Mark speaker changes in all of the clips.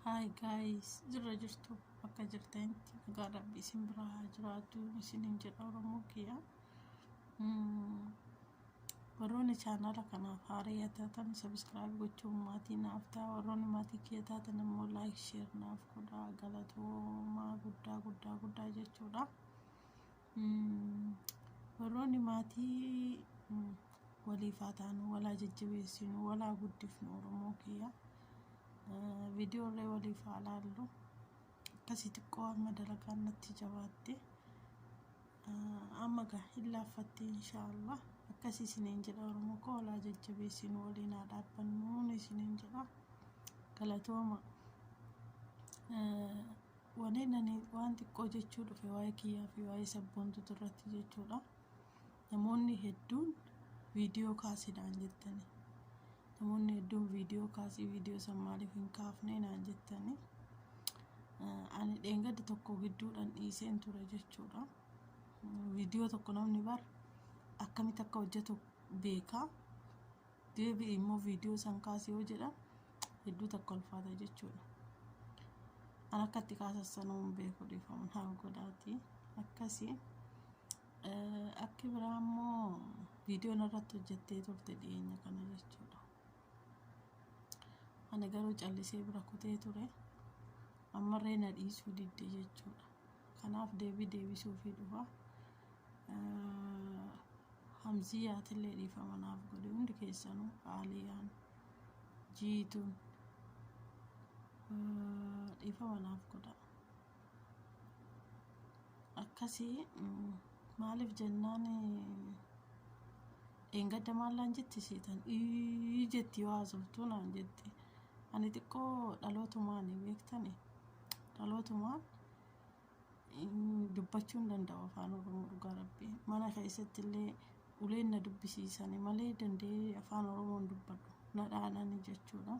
Speaker 1: Hi guys, jirra jirtu bakka jirtanitti nagaa rabbi isin bira haa jiraatu isinin jedha Oromoo kiyya. Mm, Warroonni chaanaala kanaaf haaraa taatan sabiskiraayib gochuun maatii naaf ta'a. Warroonni maatii kiyya taatan immoo laayik sheer naaf godhaa galatoomaa guddaa guddaa guddaa jechuudha. Warroonni maatii waliif haa taanu, walaa jajjabeessinu, walaa guddifnu Oromoo kiyya. Viidiyoollee waliif haa laallu. Akkasii xiqqoo amma dalagaan natti jabaatte. Amma gaa hin laaffatte inshaallah. Akkasii isiniin jedha Oromoo koo walaa jajjabeessinu waliin haa dhaabbannu isiniin jedha. Galatooma. Waneen ani waan xiqqoo jechuu dhufe waa'ee kiyyaa fi waa'ee sabboontutu irratti jechuudha. Namoonni hedduun viidiyoo kaasi naan jettani. Namoonni hedduun viidiyoo kaasii viidiyoo san maaliif hin kaafne naan jettani. Ani dheengadda tokko gidduudhaan dhiiseen ture jechuudha. Viidiyoo tokko namni bar akkamitti akka hojjetu beekaa. deebi'i immoo viidiyoo san kaasi yoo jedha hedduu takka ulfaata jechuudha an akka itti kaasassanuu hin beeku dhiifaman haa godhaati akkasi akki biraa immoo viidiyoon irratti hojjettee turte dhiyeenya kana jechuudha ani garuu callisee bira kutee ture ammarree na dhiisuu didde jechuudha kanaaf deebii deebisuufii dhufa Hamziyaatillee dhiifama naaf godhi hundi keessanuu Aaliyaan jiituun dhiifama naaf godha akkasii maaliif jennaan dheengadda maallaan jetti seetan ii jetti yoo haasoftuu naan jetti ani xiqqoo dhalootumaan beektani dhalootumaan dubbachuu hin danda'u afaan oromoo dhugaa rabbii mana keessatti illee uleen na dubbisiisani malee danda'ee afaan oromoo hin dubbadhu na dhaanani jechuudha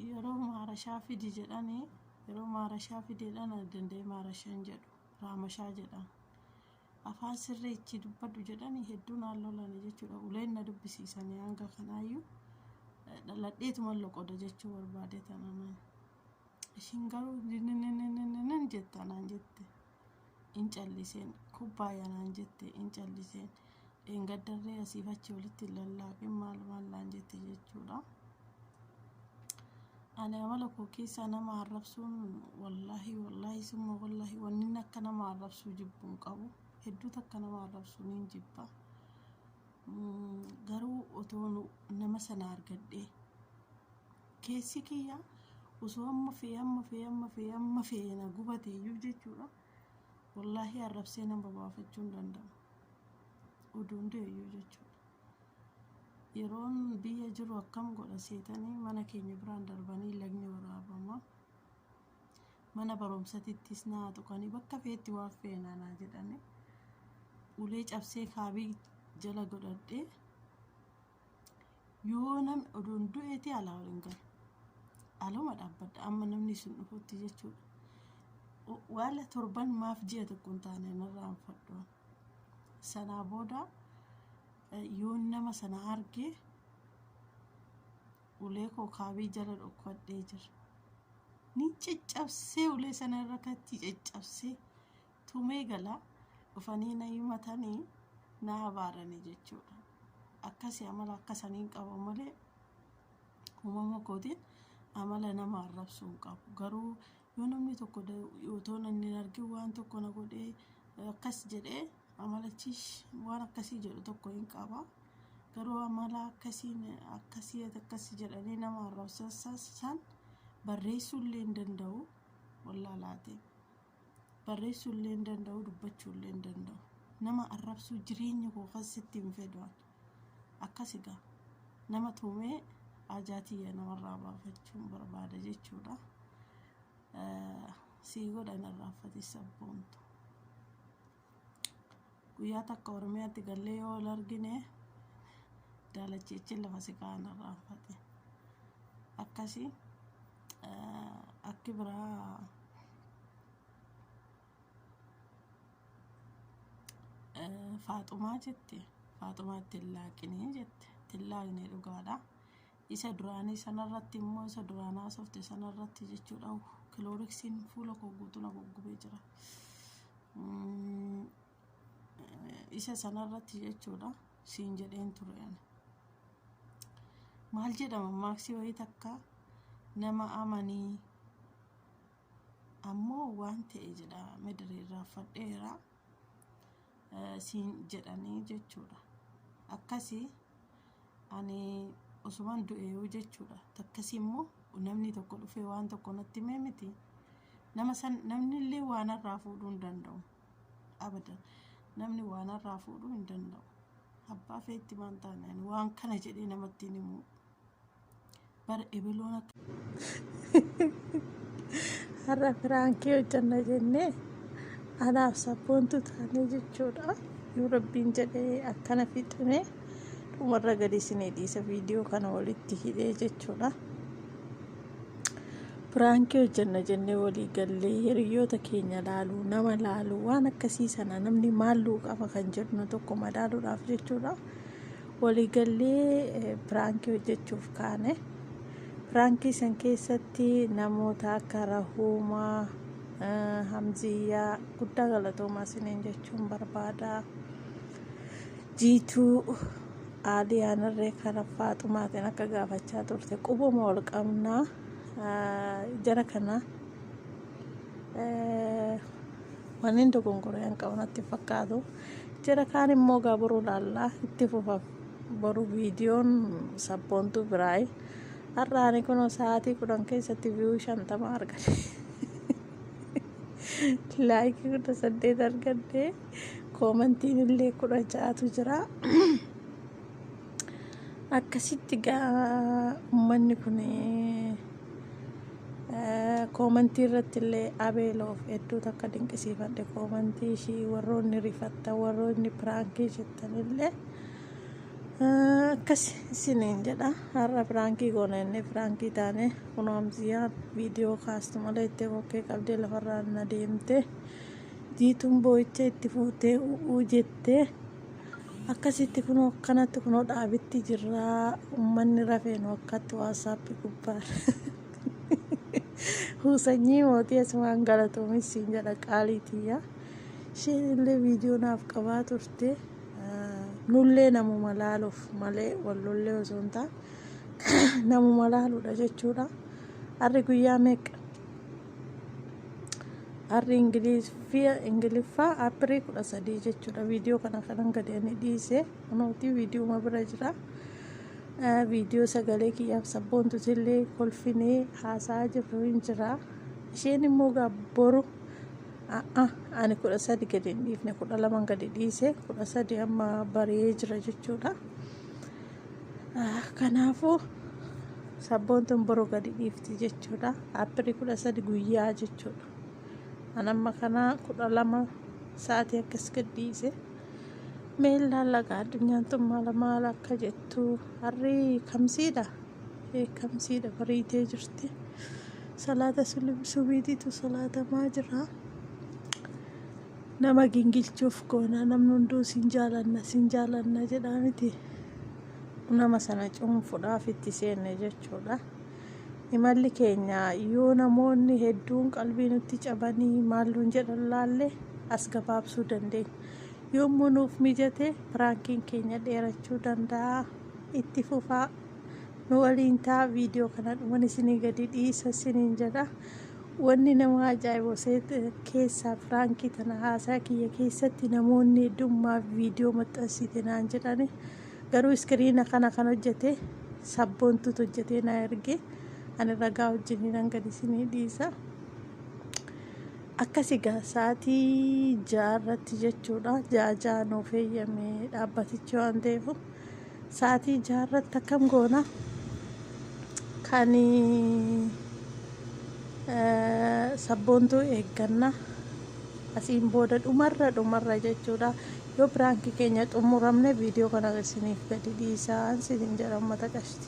Speaker 1: yeroo maarashaa fidi jedhani yeroo maarashaa fideedha na danda'ee maarashaa hin jedhu raamashaa jedhan afaan sirrii itti dubbadhu jedhani hedduu naan lolani jechuudha uleen na dubbisiisani hanga kanaayyuu dhaladheetuma loqoda jechuu barbaade tananaan. Ishiin garuu ninninninninnin jetta naan jette. In calliseen kubbaaya naan jette in calliseen. Dheengaddarree asiif achi walitti hin lallaaqin maal maal naan jette jechuudha. Ani amala koo keessaa nama arrabsuun wallaahi wallaahi summa wallaahi wannin akka nama arrabsuu jibbuu hin qabu. Hedduutu akka nama arrabsuu niin jibba. Mm, Garuu otoo nu- nama sana argadhee Keessi kiyya osoo amma fe'e amma fe'e amma fe'e amma fe'e na gubate iyyuu jechuudha wallaahii arrabsee nama baafachuu hin danda'u. Oduun du'e iyyuu jechuudha. Yeroon biyya jiru akkam godha seetanii mana keenya biraan darbanii lagni waraabama. Mana barumsatittis naa tuqanii bakka fe'etti waan fe'enaa naa jedhanii ulee cabsee kaabii jala godhadhee Yoo nam odoon du'eeti alaa ol hin galu. Aluma dhaabbadha amma namni isin dhufutti jechuudha. Waala torban maaf ji'a tokko hin taane narraa hin fadhoon. Sanaa booda yoo nama sana argee ulee koo kaabii jala dhokkadhee jira. Ni caccabsee ulee sana irra kattii caccabsee tumee gala dhufanii na himatanii na abaarani jechuudha akkasi amala akkasaniin qaba malee uumama kootiin amala nama arrabsuu hin qabu garuu yoo namni tokko otoo nan hin argin waan tokko na godhee akkas jedhee amalachiis waan akkasii jedhu tokko hin qaba garuu amala akkasiin akkasii akkasi jedhanii nama arrabsan barreessuu illee hin danda'u wallaalaatiin. barreessuu illee hin danda'u dubbachuu illee hin danda'u nama arrabsuu jireenya koo kan sitti hin fedhaan akkas egaa nama tuumee ajaatiyya namarraa baafachuun barbaada jechuudha sii godhan irraanfatis sabboontu Guyyaa takka Oromiyaatti gallee yoo wal argine daalachiichin lafa si kaa'an irraanfate. Akkasi akki biraa faaxumaa jette faaxumaa ittiin laaqinii jette ittiin laaqnee dhugaadha. Isa duraanii sanarratti immoo isa duraan haasofte sanarratti jechuudha kilooriksiin fuula koo guutuu na goggubee jira. Isa sanarratti jechuudha siin jedheen ture ani. Maal jedhama maaksii wayii takka nama amanii ammoo waan ta'e jedha midiriirraa fadheera siin jedhanii jechuudha. Akkasii ani osuman du'eeyuu jechuudha takkasii immoo namni tokko dhufee waan tokko natti himee miti nama san namni illee waan irraa fuudhuu hin danda'u abadan namni waan irraa fuudhuu hin danda'u abbaa feetti maan taane ani waan kana jedhee namatti hin himu Bara ebeloon akka. Har'a firaankii hojjanna jennee anaaf sabboontu taanee jechuudha. Yoo rabbiin jedhee akkana fixime dhumarra gadi isinii dhiisa viidiyoo kana walitti hidhee jechuudha. Firaankii hojjanna jennee walii gallee hiriyoota keenya laalu nama laalu waan akkasii sana namni maalluu qaba kan jedhu tokko madaaluudhaaf jechuudha. Waliigallee piraankii hojjechuuf kaane. Piraankii san keessatti namoota akka Rahuumaa, eh, Hamziyyaa guddaa galatoomaa isiniin jechuun barbaada. Jiituu Aaliyaan irree kara Faaxumaatiin akka gaafachaa turte qubuma wal qabnaa eh, jara kana Wannin dogongoree an qabu natti fakkaatu. Jira kaan immoo gaa boruu laallaa itti fufa boru viidiyoon sabboontuu biraayi. Har'aani kunoo sa'aatii kudhan keessatti viiyuu shantama argate. Laayikii kudha saddeet argadde koomantiin illee kudha ja'atu jira. Akkasitti gaa ummanni kun koomantii irratti illee abeeloof hedduu takka dinqisiifadhe koomantii ishii warroonni rifattan warroonni piraankii jettan illee akkas isiniin jedha har'a piraankii goona inni piraankii taane kunoo amsiyaa viidiyoo kaastu malee itti kokkee qabdee lafarraa na deemte jiituun boo'icha itti fuutee u'uu jettee akkasitti kunoo akkanatti kunoo dhaabitti jirraa ummanni rafeenu akkatti waassaappi gubbaan huusanyii mootii asumaan galatoomis siin jedha qaaliitiyya isheen illee viidiyoo naaf qabaa turte nullee namuma laaluuf malee wallollee osoo hin taane namuma laaluudha jechuudha harri guyyaa meeqa arri ingiliffaa ingiliffaa appirii kudha sadii jechuudha viidiyoo kana kanan gadi ani dhiise amautii viidiyooma bira jira viidiyoo sagalee kiyyaaf sabboontu illee kolfinee haasaa jirru hin jira isheen immoo boru ani kudha sadi gadi hin dhiifne kudha laman gadi dhiise kudha sadi amma bari'ee jira jechuudha Kanaafuu sabboontuun boru gadi dhiifti jechuudha. Appilii kudha sadi guyyaa jechuudha. An amma kanaa kudha lama sa'aatii akkas gadhiise. Mee laalaqa addunyaan tun maala maala akka jettu harri kamsiidha. Kamsiidha bariitee jirti. Salaata subiitiitu salaatamaa jira. Nama gingilchuuf goona namni hunduu sin jaalanna sin jaalanna jedhaa miti nama sana cuunfuudhaaf itti seenne jechuudha. Imalli keenya yoo namoonni hedduun qalbii nutti cabanii maal nuun jedhan laalle as gabaabsuu dandeenya. Yommuu nuuf mijate piraankiin keenya dheerachuu danda'a. Itti fufaa nu waliin ta'a viidiyoo kana dhuman isinii gadi dhiisa isiniin jedha. Wanni nama ajaa'ibu seet keessaa firaankii tana haasaa kiyya keessatti namoonni hedduun maaf viidiyoo maxxansite naan jedhani garuu iskiriina kana kan hojjete sabboontuutu hojjetee na erge ani ragaa wajjin nan gadi isinii dhiisa. Akkasi gaa sa'aatii ja'a irratti jechuudha ja'a ja'a nuuf eeyyame dhaabbatichi waan ta'eef Sa'atii jaha irratti akkam goona? Kan sabboontuu eegganna. Asiin booda dhumarra dhumarra jechuudha. Yoo piraanki keenya xumuramne viidiyoo kana isiniif gadi dhiisaan siin jedha uummata qashti.